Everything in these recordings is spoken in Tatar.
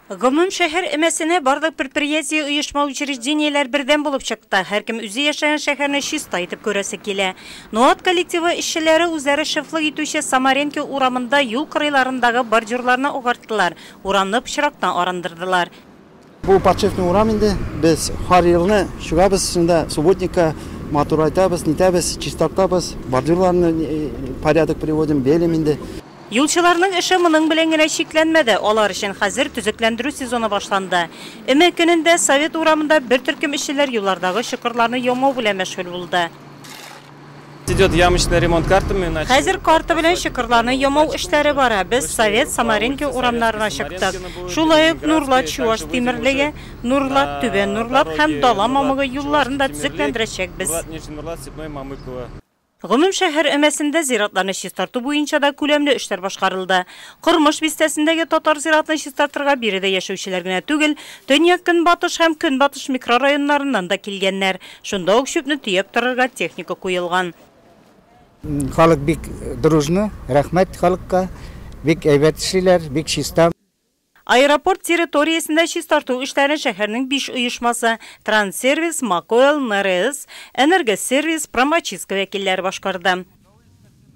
Гомум шәһәр эмәсенә барлык предприятие, оешма, учреждениеләр бердәм булып чыкты. Һәркем үзе яшәгән шәһәрне чиста итеп күрәсе килә. Ноат коллективы эшчеләре үзләре шефлык итүче Самаренки урамында юл кырыйларындагы бордюрларны агарттылар, урамны пычрактан арындырдылар. Бу почетный урам инде. Без һәр елны чыгабыз шунда субботникка, матурайтабыз, нитәбез, чистартабыз, бордюрларны порядок приводим, белим инде. Юлчыларның эше моның белән генә чикләнмәде, алар өчен хәзер төзекләндерү сезоны башланды. Өмә көнендә Совет урамында бер төркем эшчеләр юллардагы чокырларны ямау белән мәшгуль булды. Хәзер карта белән чокырларны ямау эшләре бара. Без Совет, Самаринка урамнарына чыктык. Шулай ук Нурлат, Чуаш Тимерлеге, Нурлат, Түбән Нурлат һәм Дала Мамыгы юлларын да төзекләндерәчәкбез. Гомум шәһәр өмәсендә зиратларны чистарту буенча да күләмле эшләр башкарылды. Кормыш бистәсендәге Татар зиратын чистартырга биредә яшәүчеләр генә түгел, Төньяк-Көнбатыш һәм Көнбатыш микрорайоннарыннан да килгәннәр. Шунда ук чүпне төяп торырга техника куелган. Халык бик дружно, рәхмәт халыкка, бик әйбәт эшлиләр, бик чиста. Аэропорт территориясендә чистарту эшләрен шәһәрнең биш оешмасы, Транссервис, Макоэл, НРС, Энергосервис, Промочистка вәкилләре башкарды.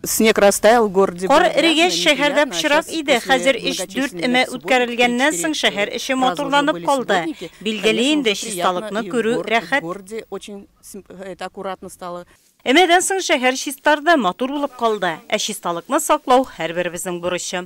Снег растаял, в городе было грязно, неприятно, а сейчас после Кар эрегәч, шәһәрдә пычрак иде, хәзер эш дүрт өмә үткәрелгәннән соң шәһәр эче матурланып калды. Билгеле инде, чисталыкны күрү рәхәт. Өмәдән соң шәһәр чистарды, матур булып калды. Ә чисталыкны саклау, һәрберебезнең бурычы.